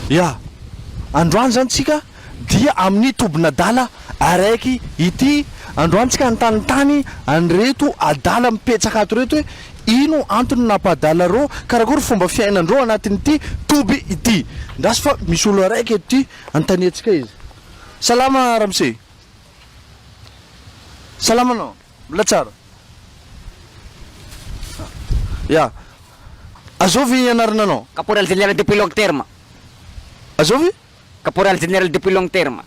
Ya! Androany izany tsika dia amin'ny tobin'adala araiky ity, androany tsika nitantany an'ireto adala mipetsaka ato ireto hoe ino antony nampa-adala reo, karakory fomba fiainandreo anatin'ity toby ity. Ndraso fa misy olona araiky eto ity, anontaniantsika izy. Salama ramose. Salama anao. Mbola tsara. Ya. Azovy anarana anao. Caporal general depuis long terme. Azovy? Caporal general depuis long terme.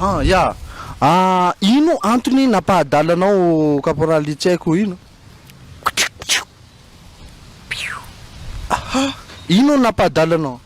Ah ya. Ah ino antony nampahadala anao caporal tsy haiko ino. Aha. Ino nampahadala anao?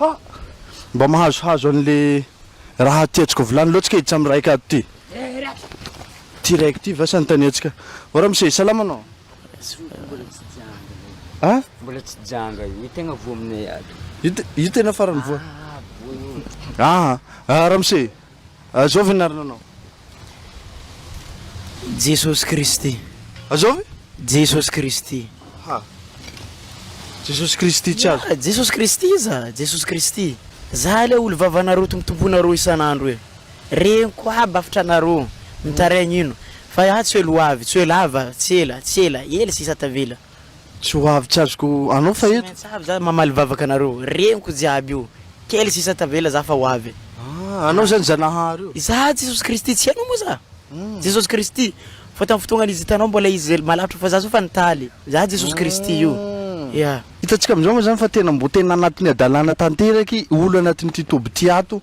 Ha! Mba mahazohazo an'le raha ty atsika vilany loatsy kay itsam raika ato ty. Ty raiko ty va santanetsika. O ramose salama anao? A? Mbola tsy janga io tegna voa aminay ato. Io tena farany voa. Ah, ah ramose, Azao venarina anao. Jesosy Kristy. Azao ve? Jesosy Kristy. Ha. Jesosy Kristy tsy azo. Jesosy Kristy iza? Jesosy Kristy. Za ilay olo vavanareo tompotomponareo isan'andro e. Reniko aby afitranareo. Mitaraigna ino. Fa ah tsy elo ho avy, tsy ho ela ava, tsy ela, tsy ela, ela sisa tavela. Tsy ho avy tsy azoko anao fa eto. Tsy maintsy avy za mamaly vavaka anareo reniko jiaby io kely sisa tavela za fa ho avy e. Ah anao zany zanahary io. Za Jesosy Kristy tsy hainao moa za Jesosy Kristy fa tam fotoagnany izy hitanao mbola izy zay malavitra fa za zao fa nitaly za Jesosy Kristy io yeah. Hitantsika amizao moa zany fa tena mbo tena anatin'ny hadalana tanteraka i olo anatin'ity toby ty ato.